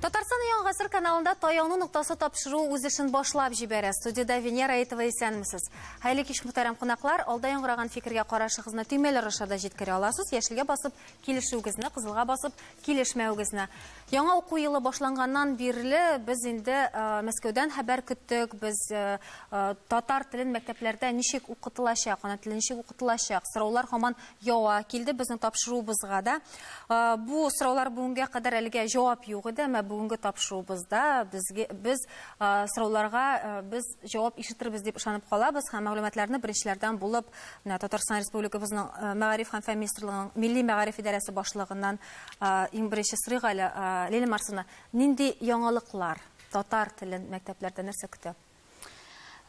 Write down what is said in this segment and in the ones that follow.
Татарстан яңа гасыр каналында таяну ноктасы тапшыру үз эшен башлап җибәрә. Студиядә Венера Әйтова исәнмесез. Хәйле кич мөхтәрәм кунаклар, алда яңгыраган фикергә карашыгызны төймәләр аша да җиткерә аласыз. Яшелгә басып, килешүегезне кызылга басып, килешмәвегезне. Яңа уку елы башланганнан бирле без инде э, Мәскәүдән хәбәр көттек, без э, э, татар телен мәктәпләрдә ничек укытылачак, ана теле ничек укытылачак, сораулар һаман ява килде безнең тапшыруыбызга да. Бу сораулар бүгенгә кадәр әлегә җавап юк иде, әмма бүгенге тапшыруыбызда безгә без сорауларга без җавап ишетербез дип ышанып калабыз һәм мәгълүматларны беренчеләрдән булып менә Татарстан Республикабызның э, Мәгариф һәм фән министрлыгының Милли мәгариф идарәсе башлыгыннан э, иң беренче сорыйк әле э, Лилия Марсовна, нинди яңалыклар татар телен мәктәпләрдә нәрсә көтә?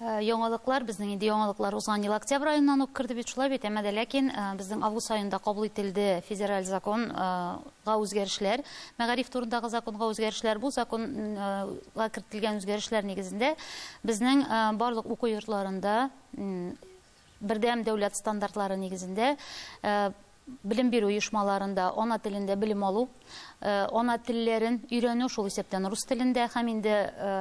Э, яңалыклар безнең инде яңалыклар узган ел октябрь айыннан ук керде бит шулай бит әмма ләкин э, безнең август айында кабул ителде федераль законга э, үзгәрешләр Мәгариф турындагы законга үзгәрешләр бу законга кертелгән үзгәрешләр нигезендә безнең барлык уку йортларында бердәм дәүләт стандартлары нигезендә белем бирү оешмаларында ана телендә белем алу, ана телләрен өйрәнү шул исәптән рус телендә һәм инде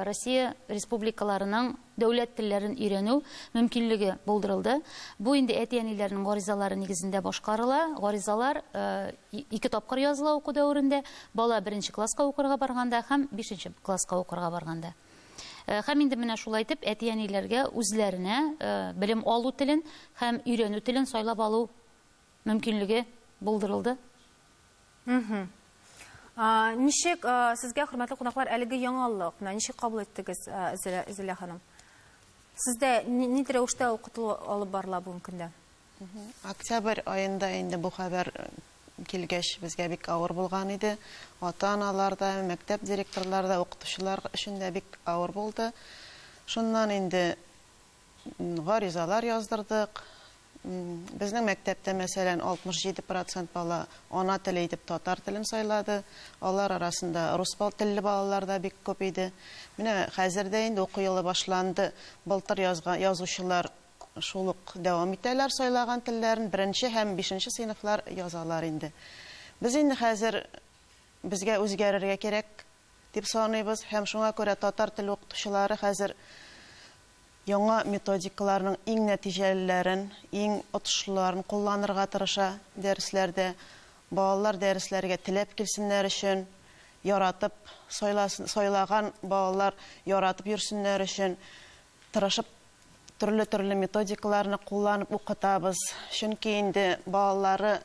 Россия республикаларының дәүләт телләрен өйрәнү мөмкинлеге булдырылды. Бу инде әти-әниләрнең гаризалары нигезендә башкарыла. Гаризалар ике тапкыр языла уку дәверендә, бала беренче класска укырга барганда һәм бишенче класска укырга барганда. Һәм инде менә шулай итеп әти-әниләргә үзләренә белем алу телен һәм өйрәнү телен сайлап алу мөмкинлеге булдырылды. Мхм. Ничек сезгә, хөрмәтле кунаклар, әлеге яңалык? Менә ничек кабул иттегез, Зилә ханым? Сездә нинди рәвештә укыту алып барыла бүгенге көндә? Октябрь аенда инде бу хәбәр килгәч, безгә бик авыр булган иде. Ата-аналар да, мәктәп директорлары да, укытучылар өчен дә бик авыр булды. Шуннан инде Гаризалар яздырдык. Безнең мәктәптә, мәсәлән, 67 процент бала ана теле итеп татар телен сайлады. Алар арасында рус телле балалар да бик күп иде. Менә хәзер дә инде уку елы башланды. Былтыр язган язучылар шул ук дәвам итәләр сайлаган телләрен, беренче һәм бишенче сыйныфлар язалар инде. Без инде хәзер безгә үзгәрергә кирәк, дип саныйбыз һәм шуңа күрә татар теле укытучылары хәзер яңа методикаларның иң нәтиҗәлеләрен, иң отышлыларын кулланырга тырыша дәресләрдә. Балалар дәресләргә теләп килсеннәр өчен, яратып сайлаган балалар яратып йөрсеннәр өчен Тырышып төрле-төрле методикаларны кулланып укытабыз. Чөнки инде балалары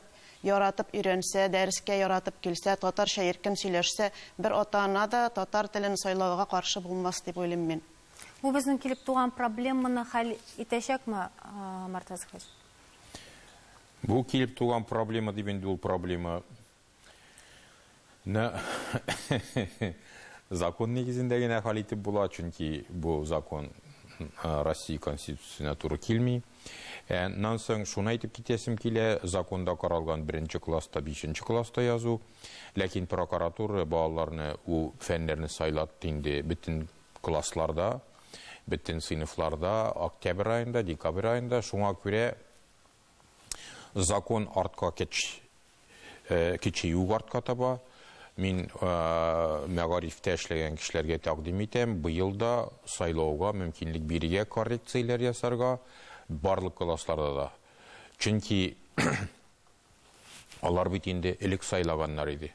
яратып өйрәнсә, дәрескә яратып килсә, татарча иркен сөйләшсә, бер ата-ана да татар телен сайлауга каршы булмас дип уйлыйм мин. Бу безнең килеп туган проблеманы хәл итәчәкме, Мортаза хәзрәт? Бу килеп туган проблема дип инде ул проблема Ну, закон нигезендә генә хәл итеп була, чөнки бу закон Россия Конституциясенә туры килми. Ә нан соң шуны әйтеп китәсем килә, законда каралган беренче класста, бишенче класста язу, ләкин прокуратура балаларны у фәннәрне сайлатты инде бөтен классларда, бөтен сыйныфларда, октябрь аенда, декабрь аенда, шуңа күрә Закон артка кеч, кече юк артка таба. Мин мәгарифтә эшләгән кешеләргә тәкъдим итәм, быел да сайлауга мөмкинлек бирергә, коррекцияләр ясарга барлык классларда да. Чөнки алар бит инде элек сайлаганнар иде.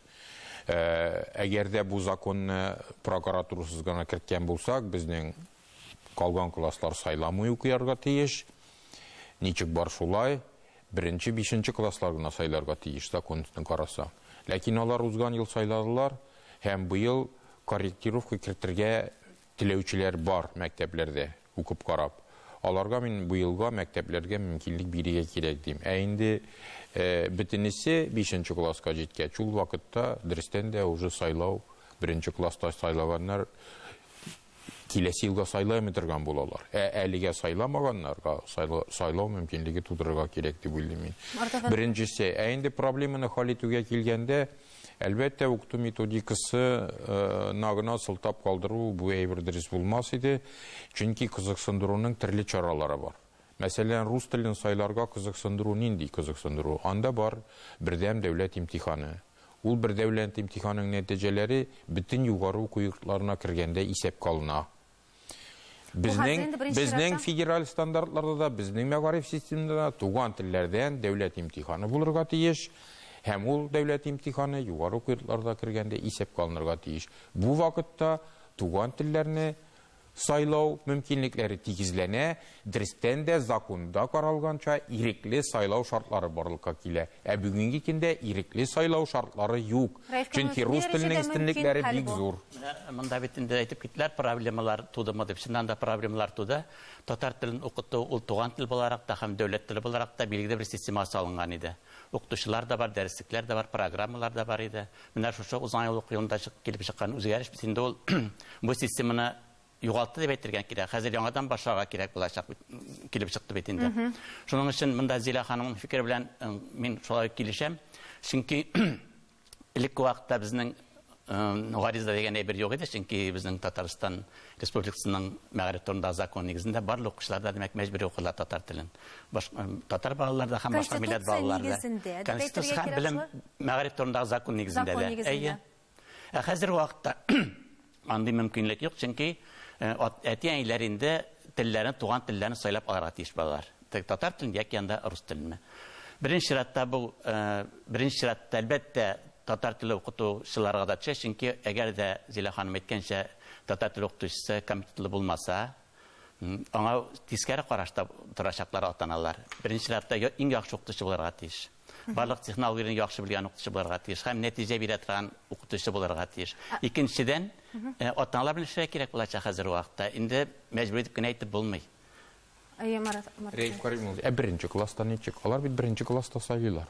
Әгәр дә бу законны прокуратурасыз гына керткән булсак, безнең Калган класслар сайламый укыярга тиеш. Ничек бар шулай. Беренче, бишенче класслар гына сайларга тиеш, закон өстен карасаң. Ләкин алар узган ел сайладылар һәм быел корректировка кертергә теләүчеләр бар мәктәпләрдә, укып карап. Аларга мин быелга мәктәпләргә мөмкинлек бирергә кирәк дим. Ә инде бөтенесе бишенче класска җиткәч, ул вакытта дөрестән дә уже сайлау, беренче класста сайлаганнар Киләсе елга сайлай алмый торган булалар. Ә әлегә сайламаганнарга сайлау мөмкинлеге тудырырга кирәк дип уйлыйм мин. Беренчесе, ә инде проблеманы хәл итүгә килгәндә, Әлбәттә, укыту методикасы гына сылтап калдыру бу әйбер дөрес булмас иде, чөнки кызыксындыруның төрле чаралары бар. Мәсәлән, рус телен сайларга кызыксындыру нинди кызыксындыру? Анда бар бердәм дәүләт имтиханы. Ул бер дәүләнт имтиханының нәтиҗәләре бөтен югары уку йортларына кергәндә исәпкә алына. Безнең, безнең федераль стандартларда да, безнең мәгариф системында да туган телләрдән дәүләт имтиханы булырга тиеш һәм ул дәүләт имтиханы югары уку йортларда кергәндә исәпкә алынырга тиеш. Бу вакытта туган телләрне Сайлау мөмкинлекләре тигезләнә, дөрестән дә, законда каралганча, ирекле сайлау шартлары барлыкка килә. Ә бүгенге көндә ирекле сайлау шартлары юк, чөнки рус теленең өстенлекләре бик зур. Менә монда бит инде әйтеп киттеләр, проблемалар тудымы дип. Чыннан да проблемалар туды. Татар телен укыту, ул туган тел буларак та һәм дәүләт теле буларак та билгеле бер системага салынган иде. Укытучылар да бар, дәреслекләр дә бар, программалар да бар иде. Менә шушы узган ел уку елында килеп чыккан үзгәреш бит инде ул. Бу системаны югалтты дип әйтергә кирәк. Хәзер яңадан башларга кирәк булачак бит, килеп чыкты бит инде. Шуның өчен монда Зилә ханымның фикере белән мин шулай ук килешәм. Чөнки элекке вакытта безнең гариза дигән әйбер юк иде, чөнки безнең Татарстан Республикасының мәгариф турындагы закон нигезендә барлык укучылар да, димәк, мәҗбүри укыдылар татар телен. Баш, татар балалары да һәм башка милләт балалары да. Конституция нигезендә, дип әйтергә кирәк шулай. Белем, мәгариф турындагы закон нигезендә дә. Закон нигезендә. Әйе. Ә хәзерге вакытта андый мөмкинлек юк, чөнки әти-әниләр инде телләрен, туган телләрен сайлап алырга тиеш балалар. Теге татар телен яки анда рус теленме. Беренче чиратта бу, беренче чиратта, әлбәттә, татар теле укытучыларга да төшә, чөнки әгәр дә Зилә ханым әйткәнчә, Татар теле укытучысы компетентлы булмаса, аңа тискәре карашта торачаклар ата-аналар. Беренче чиратта иң яхшы укытучы булырга тиеш. Барлык технологияне яхшы белгән укытучы булырга тиеш һәм нәтиҗә бирә торган укытучы булырга тиеш. Икенчедән, ата-аналар белән эшләргә кирәк булачак хәзерге вакытта. Инде мәҗбүр итеп кенә әйтеп булмый. Әйе, Марат. Рәиф Карим улы, ә беренче класста ничек? Алар бит беренче класста сайлыйлар.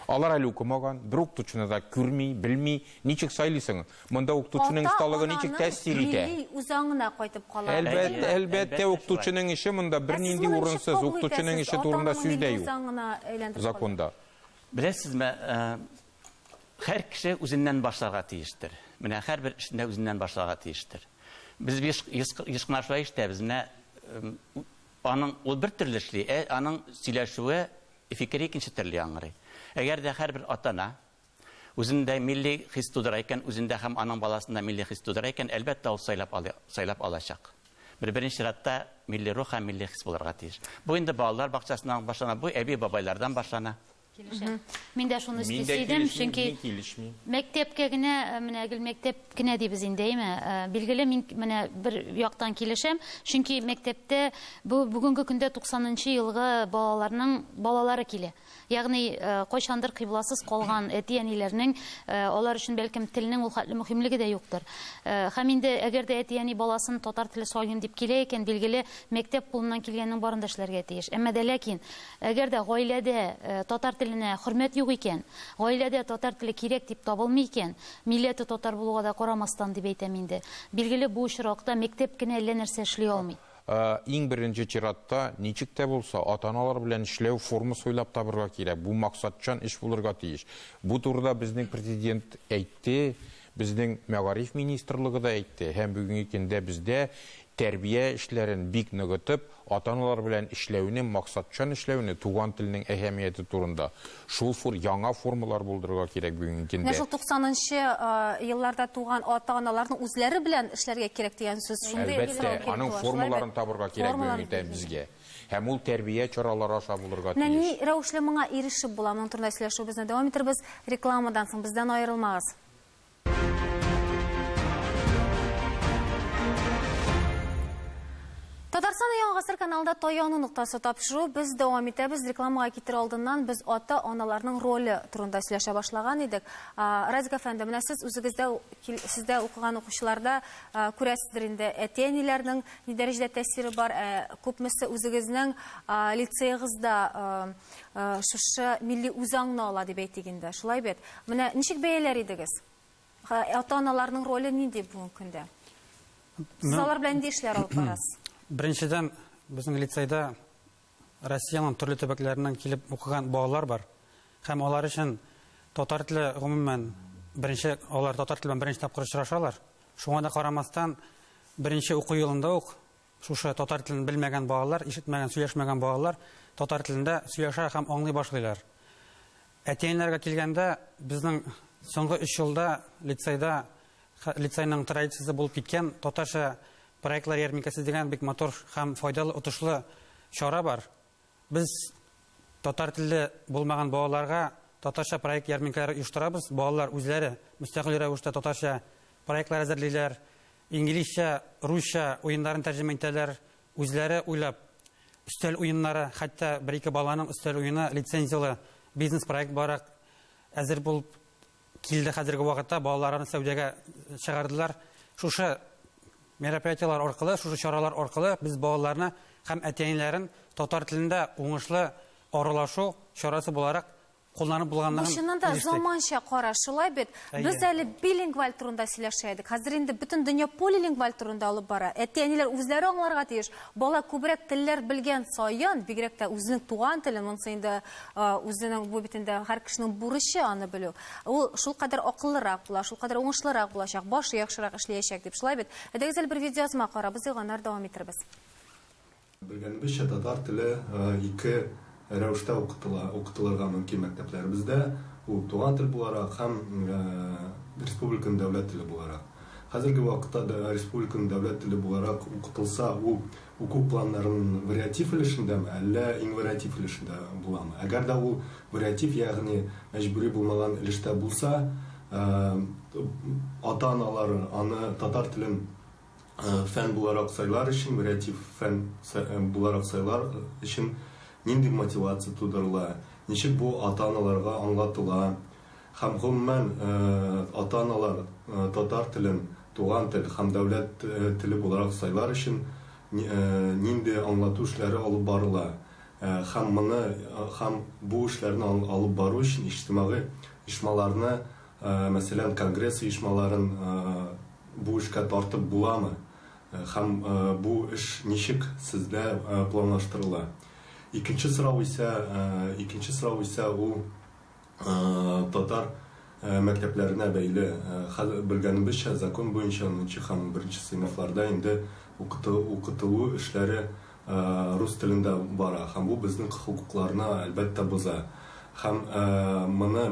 Алар әле укымаган, бер укытучыны да күрми, белми, ничек сайлыйсың? Монда укытучының осталыгы ничек тәэсир итә? Милли үзаңына кайтып кала. Әлбәттә, әлбәттә, укытучының эше монда бернинди урынсыз, укытучының эше турында сүз дә юк. Законда. Беләсезме, Һәр кеше үзеннән башларга тиештер. Менә һәрбер эшне үзеннән башларга тиештер. Без биш еш кына шулай эшләбез. Менә аның ул бер төрле эшли, ә аның сөйләшүе, фикере икенче төрле яңгырый. Әгәр дә һәрбер ата-ана үзендә милли хис тудыра икән, үзендә һәм аның баласында милли хис тудыра икән, әлбәттә, ул сайлап алды, сайлап алачак. Бер беренче чиратта милли рух һәм милли хис булырга тиеш. Бу инде балалар бакчасыннан башлана, бу әби-бабайлардан башлана. Килешәм. Мгм. Мин дә шуны Мин өсти дә идем, килешмим, чөнки мин килешмим. мәктәпкә генә, э, менә гел мәктәп кенә дибез инде, әйме? Э, Билгеле, мин менә бер яктан килешәм, чөнки мәктәптә бу бүгенге көндә 90 нчы елгы балаларның балалары килә. Ягъни, э, кайчандыр кыйбласыз калган әти-әниләрнең э, алар өчен бәлкем телнең ул хәтле мөһимлеге дә юктыр. Э, Һәм инде әгәр дә әти-әни баласын татар теле сайлыйм дип килә икән, билгеле, мәктәп кулыннан килгәннең барын да эшләргә тиеш. Әмма дә ләкин Әгәр дә гаиләдә татар теленә хөрмәт юк икән, гаиләдә татар теле кирәк дип табылмый икән, милләте татар булуга да карамастан дип әйтәм инде, билгеле, бу очракта мәктәп кенә әллә нәрсә эшли алмый. Иң беренче чиратта, ничек тә булса, ата-аналар белән эшләү формасы уйлап табырга кирәк. Бу максатчан эш булырга тиеш. Бу турыда безнең Президент әйтте, безнең Мәгариф министрлыгы да әйтте һәм бүгенге көндә бездә Тәрбия эшләрен бик ныгытып, ата-аналар белән эшләүне, максатчан эшләүне, туган телнең әһәмияте турында, шул фур яңа формалар булдырырга кирәк бүгенге Менә көндә. шул туксанынчы елларда туган ата-аналарның үзләре белән эшләргә кирәк дигән сүз шундый Әлбәттә, сорау килеп аның туа. Шулай формаларын бит? табырга кирәк Формаларын бүгенге тә безгә. Һәм ул тәрбия чаралары аша булырга Менә ни тиеш. рәвешле моңа ирешеп була, моның турында сөйләшүебезне дәвам итербез рекламадан соң, бездән аерылмагыз. Татарстан Яңа гасыр каналында таяну ноктасы тапшыру без дәвам итәбез. Рекламага китер алдыннан без ата-аналарның роле турында сөйләшә башлаган идек. Радик әфәнде, менә сез үзегездә сездә укыган укучыларда күрәсездер инде әти-әниләрнең ни дәрәҗәдә тәэсире бар, ә күпмесе үзегезнең лицеегызда шушы милли үзаңны ала дип әйтик инде. Шулай бит? Менә ничек бәяләр идегез? Ата-аналарның роле нинди бүгенге көндә? Сез алар белән нинди эшләр алып барасыз? Беренчедән, безнең лицейда Россиянең төрле төбәкләреннән килеп укыган балалар бар. Һәм алар өчен татар теле, гомумән, беренче алар татар теле белән беренче тапкыр очрашалар. Шуңа да карамастан, беренче уку елында ук Шушы татар телен белмәгән балалар, ишетмәгән, сөйләшмәгән балалар татар телендә сөйләшә һәм аңлый башлыйлар. Әти-әниләргә килгәндә, безнең соңгы өч елда лицейда, лицейның традициясе булып киткән татарча проектлар ярминкәсе дигән бик матур һәм файдалы, отышлы чара бар. Без татар телле булмаган балаларга татарча проект ярминкәләре оештырабыз. Балалар үзләре мөстәкыйль рәвештә татарча проектлар әзерлиләр, инглизчә, русча уеннарын тәрҗемә итәләр, үзләре уйлап өстәл уеннары, хәтта бер-ике баланың өстәл уены лицензияле бизнес-проект буларак әзер булып Килде хәзерге вакытта балаларны сәүдәгә чыгардылар. Шушы мероприятиеләр аркылы, шушы чаралар аркылы без балаларны һәм әтиәниләрен татар телендә уңышлы аралашу чарасы буларак кулланып булганлыгын Чыннан да заманча кара, шулай бит. Без әле билингваль турында сөйләшә идек. Хәзер инде бөтен дөнья полилингваль турында алып бара. Әти-әниләр үзләре аңларга тиеш. Бала күбрәк телләр белгән саен, бигрәк тә үзенең туган теле, монысы инде Үзенең бу бит инде һәр кешенең бурычы аны белү. Ул шулкадәр акыллырак була, шулкадәр уңышлырак булачак, башы яхшырак эшләячәк дип. Шулай бит? Әйдәгез әле бер видеоязма карабыз, ди, аннары дәвам итәрбез. Белгәнебезчә, татар теле ике рәвештә укытыла, укытылырга мөмкин мәктәпләребездә. Ул туган тел буларак һәм республиканың дәүләт теле буларак. Хәзерге вакытта республиканың дәүләт теле буларак укытылса, ул Уку планнарын вариатив өлешендәме, әллә инвариатив өлешендә буламы? Әгәр дә ул вариатив, ягъни мәҗбүри булмаган өлештә булса, ата-аналар аны татар телен фән буларак сайлар өчен, вариатив фән буларак сайлар өчен нинди мотивация тудырыла, ничек бу ата-аналарга аңлатыла? Һәм гомумән, ата-аналар татар телен туган тел һәм дәүләт теле буларак сайлар өчен нинди аңлату эшләре алып барыла һәм моны һәм бу эшләрне алып бару өчен иҗтимагый оешмаларны, мәсәлән, конгресс оешмаларын бу эшкә тартып буламы һәм бу эш ничек сездә планлаштырыла? Икенче сорау исә, икенче сорау исә ул, Татар мәктәпләренә бәйле, хәзер белгәнебезчә, закон буенча унынчы һәм беренче сыйныфларда инде укытылу эшләре рус телендә бара һәм бу безнең хокукларны, әлбәттә, боза. Һәм моны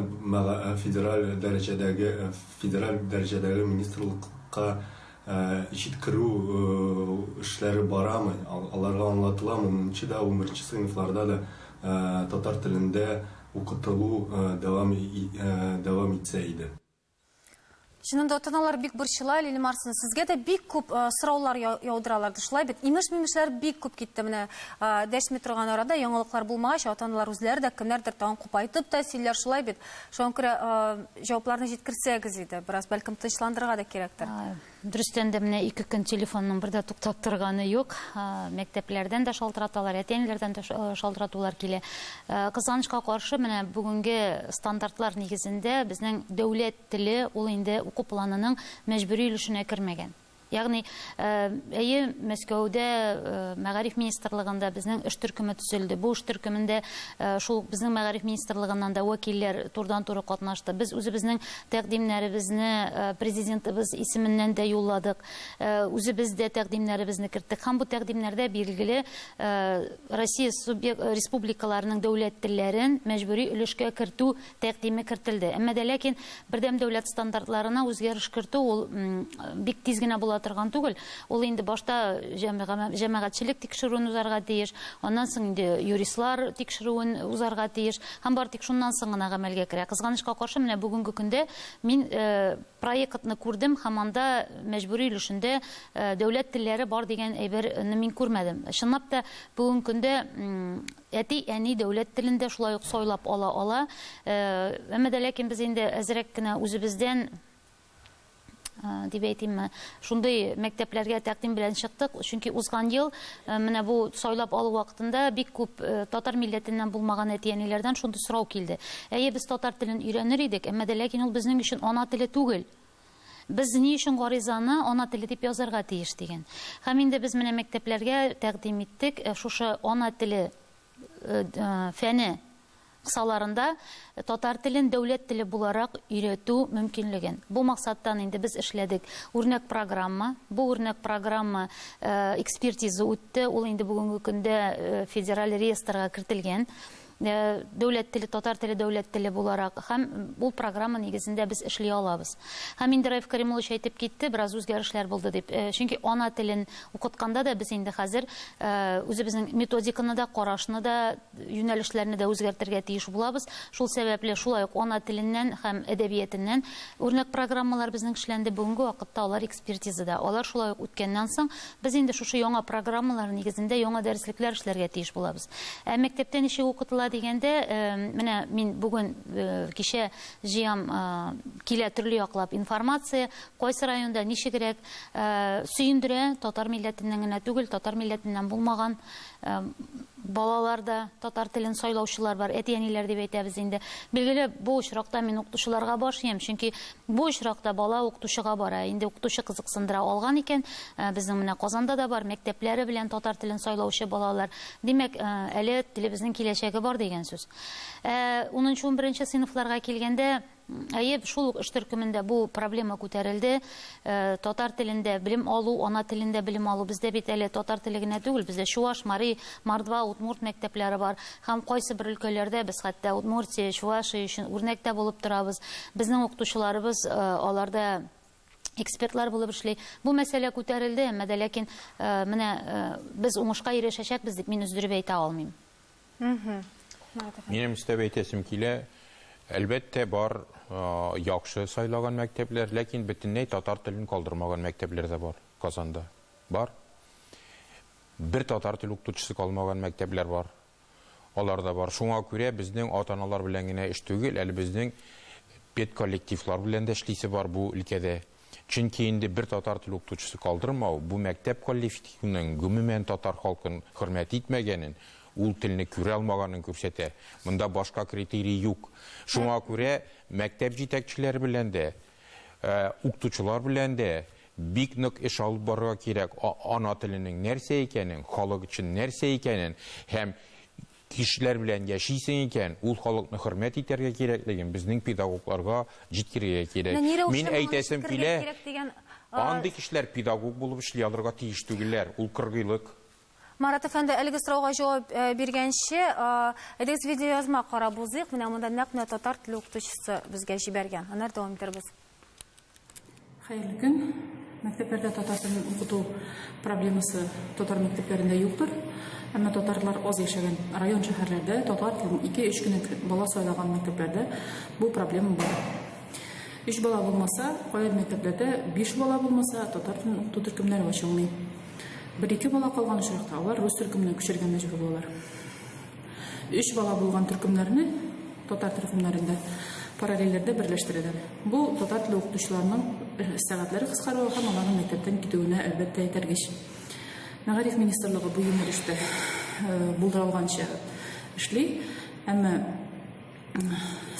федераль дәрәҗәдәге федераль дәрәҗәдәге министрлыкка җиткерү эшләре барамы, аларга аңлатыламы, унынчы да, унберенче сыйныфларда да татар телендә укытылу дәвам дәвам итсә иде. Чынында атаналар бик борчыла, Лилия Марсовна, сезгә дә бик күп э, сораулар яудыралар, шулай бит? Имеш-мимешләр бик күп китте менә. Э, дәшми торган арада яңалыклар булмагач, атаналар үзләре дә кемнәрдер тагын купайтып та сөйлиләр, шулай бит? Шуңа күрә э, җавапларны җиткерсәгез иде, бераз бәлкем тынычландырырга да кирәктер. Дөрестән дә менә ике көн телефонның бер дә туктап торганы юк. Мәктәпләрдән дә шалтыраталар, әти-әниләрдән дә шалтыратулар килә. Кызганычка каршы, менә бүгенге стандартлар нигезендә безнең дәүләт теле ул инде уку планының мәҗбүри өлешенә кермәгән. Ягъни, әйе, Мәскәүдә, Мәгариф министрлыгында безнең эш төркеме төзелде. Бу эш төркемендә шул безнең Мәгариф министрлыгыннан да вәкилләр турыдан-туры катнашты. Без үзебезнең Тәкъдимнәребезне Президентыбыз исеменнән дә юлладык. Үзебез дә тәкъдимнәребезне керттек. Һәм бу тәкъдимнәрдә билгеле Россия республикаларының дәүләт телләрен мәҗбүри өлешкә кертү тәкъдиме кертелде. Әмма дә ләкин бердәм дәүләт стандартларына үзгәреш кертү ул бик тиз генә була торган түгел. Ул инде башта җәмәгатьчелек тикшерүен узарга тиеш, аннан соң инде юристлар тикшерүен узарга тиеш. Һәм бары тик шуннан соң гына гамәлгә керә. Кызганычка каршы, менә бүгенге көндә мин проектны күрдем һәм анда мәҗбүри өлешендә дәүләт телләре бар дигән әйберне мин күрмәдем. Чынлап та, бүгенге көндә әти, әни дәүләт телен дә шулай ук сайлап ала ала. Әмма дә ләкин без инде әзрәк кенә үзебездән, Э, дип әйтимме шундый мәктәпләргә тәкъдим белән чыктык чөнки узган ел э, менә бу сайлап алу вакытында бик күп э, татар милләтеннән булмаган әти әниләрдән шундый сорау килде әйе без татар телен өйрәнер идек әмма дә ләкин ул безнең өчен ана теле түгел без ни өчен гаризаны ана теле дип язарга тиеш дигән һәм инде без менә мәктәпләргә тәкъдим иттек шушы ана теле фәне Кысаларында, татар телен дәүләт теле буларак өйрәтү мөмкинлеген. Бу максаттан инде без эшләдек үрнәк программа. Бу үрнәк программа экспертиза үтте, ул инде бүгенге көндә федераль реестрга кертелгән. Дәүләт теле, татар теле дәүләт теле буларак һәм ул программа нигезендә без эшли алабыз. Һәм инде Раиф Кәримуллович әйтеп китте, бераз үзгәрешләр булды дип. Чөнки ана телен укытканда да без инде хәзер үзебезнең методиканы да, карашны да, юнәлешләрне дә үзгәртергә тиеш булабыз. Шул сәбәпле шулай ук ана теленнән һәм әдәбиятеннән үрнәк программалар безнең эшләнде. Бүгенге вакытта алар экспертизада. Алар шулай ук үткәннән соң, без инде шушы яңа программалар нигезендә яңа дәреслекләр эшләргә тиеш булабыз. Ә мәктәптә ничек укытыла дигәндә, менә мин бүген кичә җыям, килә төрле яклап информация, кайсы районда ничегрәк, сөендерә, татар милләтеннән генә түгел, татар милләтеннән булмаган балаларда татар телен сайлаучылар бар, әти-әниләр дип әйтәбез инде. Билгеле, бу очракта мин укытучыларга баш иям, чөнки бу очракта бала укытучыга бара. Инде укытучы кызыксындыра алган икән, э, безнең менә Казанда да бар, мәктәпләре белән татар телен сайлаучы балалар. Димәк, э, әле телебезнең киләчәге бар дигән сүз. 10-11 э, сыйныфларга килгәндә, Әйе, шул ук эш төркемендә бу проблема күтәрелде. Татар телендә белем алу, ана телендә белем алу. Бездә бит әле татар теле генә түгел, бездә чуваш, мари, мордва, удмурт мәктәпләре бар. Һәм кайсы бер өлкәләрдә без хәтта Удмуртия, Чувашия өчен үрнәк тә булып торабыз. Безнең укытучыларыбыз аларда экспертлар булып эшли. Бу мәсьәлә күтәрелде, әмма дә ләкин менә без уңышка ирешәчәкбез дип мин өздереп әйтә алмыйм. Минем өстәп әйтәсем килә, әлбәттә бар яхшы сайлаган мәктәпләр, ләкин бөтенләй татар телен калдырмаган мәктәпләр дә бар Казанда. Бар. Бер татар тел укытучысы калмаган мәктәпләр бар. Алар да бар. Шуңа күрә безнең ата-аналар белән генә эш түгел, әле безнең педколлективлар белән дә эшлисе бар бу өлкәдә. Чөнки инде бер татар теле укытучысы калдырмау, бу мәктәп коллифтивының гомумән татар халкын хөрмәт итмәгәнен, ул телне күрә алмаганын күрсәтә. Монда башка критерий юк. Шуңа күрә мәктәп җитәкчеләре белән дә, укытучылар белән дә бик нык эш алып барырга кирәк, ана теленең нәрсә икәнен, халык өчен нәрсә икәнен һәм Кешеләр белән яшисең икән, ул халыкны хөрмәт итәргә кирәклеген безнең педагогларга җиткерергә кирәк. Мин әйтәсем килә, андый кешеләр педагог булып эшли алырга тиеш түгелләр, ул кыргыйлык. Марат әфәнде, әлеге сорауга җавап биргәнче, әйдәгез видеоязма карап узыйк, менә монда нәкъ менә татар теле укытучысы безгә җибәргән, аннары дәвам итәрбез. Хәерле көн. Мәктәпләрдә татар телен укыту проблемасы татар мәктәпләрендә юктыр. Әмма татарлар аз яшәгән район шәһәрләрдә татар телен 2-3 кенә бала сайлаган мәктәпләрдә бу проблема бар. 3 бала булмаса, кайбер мәктәпләрдә 5 бала булмаса татар телен укыту төркемнәре ачылмый. 1-2 бала калган очракта алар рус төркеменә күчәргә мәҗбүр булалар. Өч бала булган төркемнәрне татар төркемнәрендә параллельләрдә берләштерәләр. Бу татар теле укытучыларының сәгатьләре кыскаруы һәм аларның мәктәптән китүенә әлбәттә этәргеч. Мәгариф министрлыгы бу юнәлештә булдыралганча эшли, әмма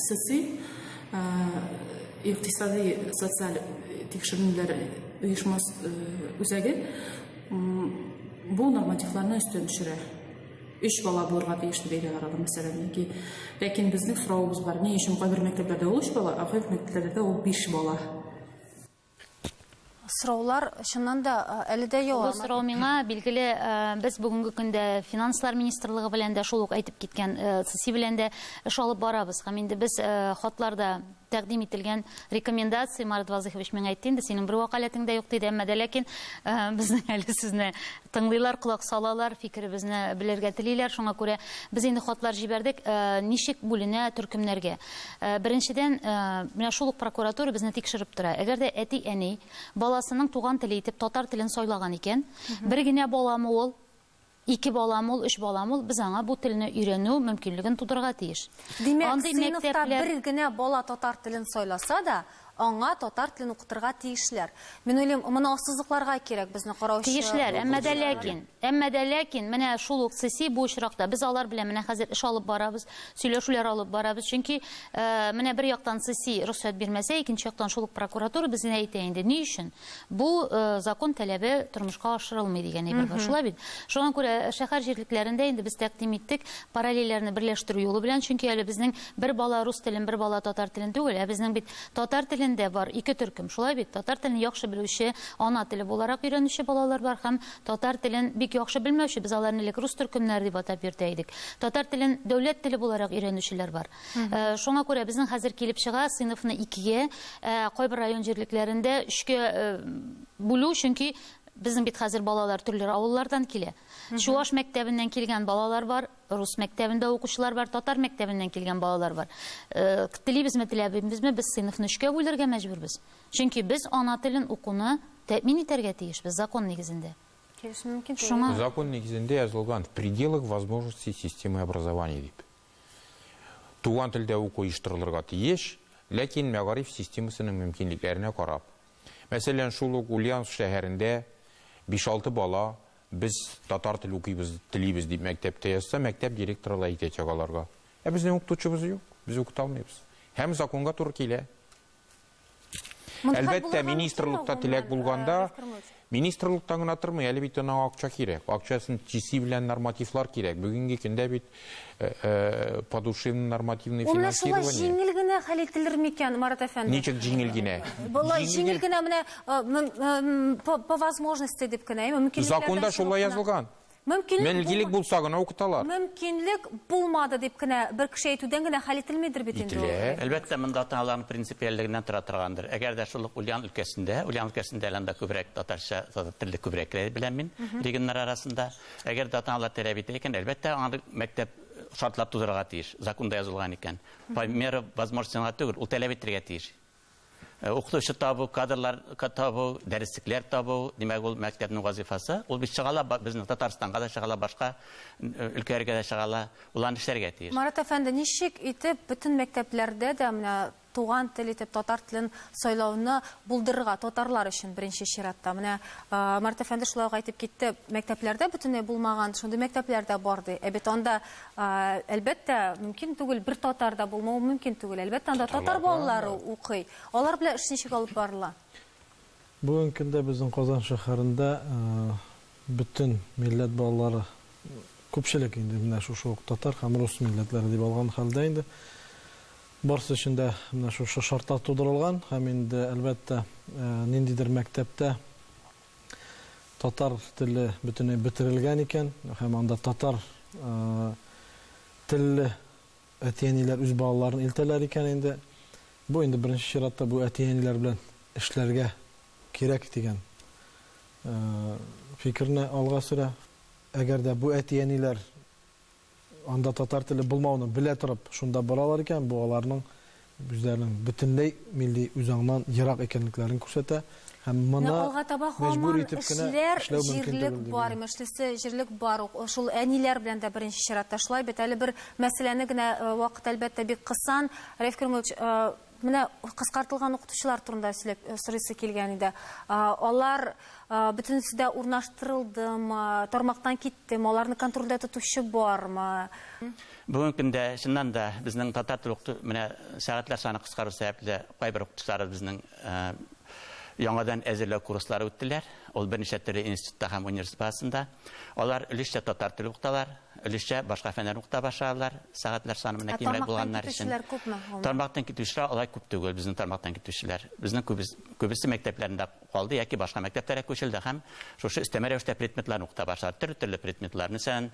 соци икътисади социаль тикшеренүләр оешмасы үзәге бу нормативларны өстен төшерә. өч бала булырга тиеш дип әйтәләр мәсәлән яки ләкин безнең соравыбыз бар ни өчен кайбер мәктәпләрдә ул өч бала ә кайбер мәктәпләрдә ул биш бала сораулар чыннан да әле дә ява. Бу сорау миңа билгеле, без бүгенге көндә финанслар министрлыгы белән дә шул ук әйтеп киткән ЦСИ белән дә эш алып барабыз. Һәм инде без хатларда Тәкъдим ителгән рекомендация, Марат Вазыйхович, миңа әйтте инде, синең бер вәкаләтең дә юк, диде. Әмма дә ләкин э, безнең әле сезне тыңлыйлар, колак салалар, фикеребезне белергә телиләр. Шуңа күрә без инде хатлар җибәрдек, э, ничек бүленә төркемнәргә. Э, беренчедән, менә шул ук прокуратура безне тикшереп тора. Әгәр дә әти-әни баласының туган теле итеп татар телен сайлаган икән, бер генә баламы ул, Ике балам ул, өч балам ул, без аңа бу телне өйрәнү мөмкинлеген тудырырга тиеш. Димәк, сыйныфта бер генә бала татар телен сайласа да, аңа татар телен укытырга тиешләр. Мин уйлыйм, моны ассызыкларга кирәк безне караучы. Тиешләр, әмма дә ләкин, әмма дә ләкин, менә шул ук ЦИСИ бу очракта, без алар белән менә хәзер эш алып барабыз, сөйләшүләр алып барабыз, чөнки менә бер яктан ЦИСИ рөхсәт бирмәсә, икенче яктан шул ук прокуратура безгә әйтә инде, ни өчен? Бу закон таләбе тормышка ашырылмый дигән әйбер бар. Шулай бит? Шуңа күрә шәһәр җирлекләрендә инде без тәкъдим иттек параллельләрне берләштерү юлы белән, чөнки әле безнең бер бала рус телен, бер бала татар телен түгел, ә безнең бит татар телендә бар ике төркем. Шулай бит? Татар телен яхшы белүче, ана теле буларак өйрәнүче балалар бар һәм татар телен бик яхшы белмәүче, без аларны элек рус төркемнәре дип атап йөртә идек. Татар телен дәүләт теле буларак өйрәнүчеләр бар. Шуңа күрә безнең хәзер килеп чыга сыйныфны икегә, кайбер район җирлекләрендә өчкә бүлү, чөнки безнең бит хәзер балалар төрле авыллардан килә. Чуаш мәктәбеннән килгән балалар бар, рус мәктәбендә укучылар бар, татар мәктәбеннән килгән балалар бар. Э, телибезме, теләбезме, без сыйныфны өчкә бүлергә мәҗбүрбез. Чөнки без ана телен укуны тәэмин итәргә тиешбез закон нигезендә. Шуңа... Закон нигезендә язылган в пределах возможностей системы образования дип. Туган телдә уку оештырылырга тиеш, ләкин мәгариф системасының мөмкинлекләренә карап. Мәсәлән, шул ук Ульяновск шәһәрендә биш-алты бала без татар теле укыйбыз, телибез дип мәктәптә язса, мәктәп директоры да әйтәчәк аларга, Ә безнең укытучыбыз юк, без укыта алмыйбыз. Һәм законга туры килә. Әлбәттә, министрлыкта теләк булганда, министрлыктан гына тормый, әле бит аңа акча кирәк. Акчасын чиси белән нормативлар кирәк. Бүгенге көндә бит э, э, подушевный нормативный Ул менә шулай җиңел генә хәл ителер микән, Марат әфәнде? Ничек җиңел генә? Болай җиңел генә менә э, по возможности дип кенә, мөмкинлекләрдән Законда шулай язылган. Мөмкинлек булса гына укыталар. Мөмкинлек булмады дип кенә бер кеше әйтүдән генә хәл ителмидер бит инде ул. Ителә. Әлбәттә, монда ата-аналарның принципиальлегеннән тора торгандыр. Әгәр дә шул ук Ульян өлкәсендә, Ульян өлкәсендә әле анда күбрәк татарча, татар телле күбрәкләр беләм мин регионнар арасында. Әгәр дә ата-аналар таләп итә икән, әлбәттә, аңа бит мәктәп шартлар тудырырга тиеш, законда язылган икән. По мере возможности гына түгел, ул таләп итәргә тиеш. Э, укытучы табу, кадрлар табу, дәреслекләр табу, димәк, ул мәктәпнең вазифасы. Ул бит чыгала безнең Татарстанга да чыгала, башка э, өлкәләргә дә чыгала. Ул аны эшләргә тиеш. Марат әфәнде, ничек итеп бөтен мәктәпләрдә дә менә туган тел итеп татар телен сайлауны булдырырга татарлар өчен беренче чиратта. Менә э, Марат әфәнде шулай ук әйтеп китте, мәктәпләрдә бөтенләй булмаган, шундый мәктәпләр дә бар ди. Ә бит анда Әлбәттә, мөмкин түгел, бер татар да булмау мөмкин түгел. Әлбәттә, анда татар балалары укый. Алар белән эш ничек алып барыла? Бүгенге көндә безнең Казан шәһәрендә бөтен милләт балалары, күпчелек инде менә шушы ук татар һәм рус милләтләре дип алган хәлдә инде, барысы өчен дә менә шушы шартлар тудырылган һәм инде, әлбәттә, ниндидер мәктәптә, татар теле бөтенләй бетерелгән икән һәм анда татар телле әти-әниләр үз балаларын илтәләр икән инде. Бу инде беренче чиратта бу әти-әниләр белән эшләргә кирәк дигән фикерне алга сөрә. Әгәр дә бу әти-әниләр Анда татар теле булмауны белә торып шунда баралар икән, бу аларның үзләренең бөтенләй милли үзаңнан ерак икәнлекләрен күрсәтә һәм моны Менә алга таба мәҗбүр һаман итеп кенә эшләр, эшләү мөмкин җирлек түгел дип бар, уйлыйм. имешлесе, җирлек бар ук. Шул әниләр белән дә беренче чиратта шулай бит. Әле бер мәсьәләне генә, вакыт, әлбәттә, бик кысан, Раиф Кримович, Менә кыскартылган укытучылар турында сөйләп э, сорыйсы килгән иде. Алар бөтенесе дә урнаштырылдымы, тармактан киттеме, аларны контрольдә тотучы бармы? Бүгенге көндә чыннан да безнең татар теле укыту менә сәгатьләр саны кыскару сәбәпле кайбер укытучылар безнең яңадан әзерләү курслары үттеләр. Ул берничә төрле институтта һәм университет базасында. Алар өлешчә татар теле укыталар. Өлешчә башка фәннәрне укыта башладылар, сәгатьләр саны менә кимрәк булганнар өчен. Ә тармактан китүчеләр күпме гомумән? Тармактан китүчеләр алай күп түгел, безнең тармактан китүчеләр. Безнең күбесе мәктәпләрендә калды яки башка мәктәпләргә күчелде һәм шушы өстәмә рәвештә предметларны укыта башладылар. Төрле-төрле предметлар. Мәсәлән,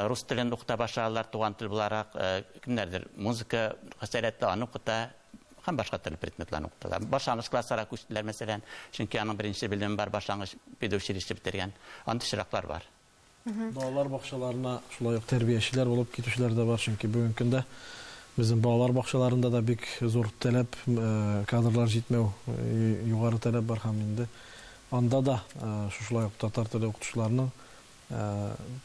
рус телен укыта башладылар туган тел буларак, кемнәрдер музыка сәләтле, аны укыта һәм башка төрле предметларны укыталар. Башлангыч классларга күчтеләр, мәсәлән, чөнки аның беренче белеме бар, башлангыч педучилище бетергән. Андый чираклар бар. Балалар бакчаларына шулай ук тәрбиячеләр булып китүчеләр дә бар, чөнки бүгенге көндә безнең балалар бакчаларында да бик зур таләп, кадрлар җитмәү, югары таләп бар һәм инде анда да шушылай ук татар теле укытучыларының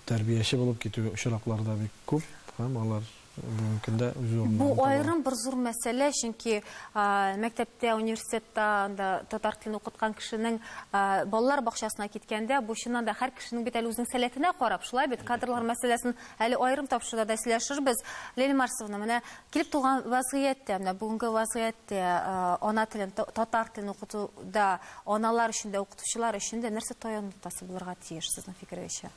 тәрбияче булып китү очраклары да бик күп һәм алар Бүгенге көндә үз урыннарын Бу таба. аерым бер зур мәсьәлә, чөнки а, мәктәптә, университетта анда татар телен укыткан кешенең а, балалар бакчасына киткәндә, бу чыннан да һәр кешенең бит әле үзенең сәләтенә карап, шулай бит, кадрлар мәсьәләсен әле аерым тапшыруда да сөйләшербез. Лилия Марсовна, менә килеп туган вазгыятьтә, менә бүгенге вазгыятьтә а, ана телен, та- татар телен укытуда аналар өчен дә, укытучылар өчен дә нәрсә таяну ноктасы булырга тиеш, сезнең фикерегезчә?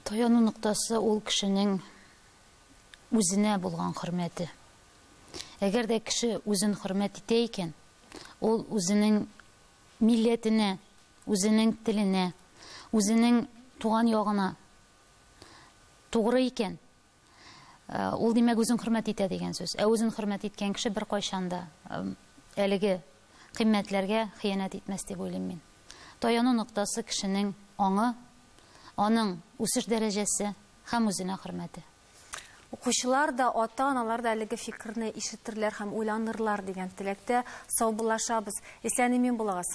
Таяну ноктасы ул кешенең үзенә булган хөрмәте. Әгәр дә кеше үзен хөрмәт итә икән, ул үзенең милләтенә, үзенең теленә, үзенең туган ягына тугры икән, Ул, димәк, үзен хөрмәт итә дигән сүз. Ә үзен хөрмәт иткән кеше беркайчан да әлеге кыйммәтләргә хыянәт итмәс дип уйлыйм мин. Таяну ноктасы кешенең аңы, аның үсеш дәрәҗәсе һәм үзенә хөрмәте. Укучылар да, ата-аналар да әлеге фикерне ишетерләр һәм уйланырлар дигән теләктә саубуллашабыз. Исән-имин булыгыз!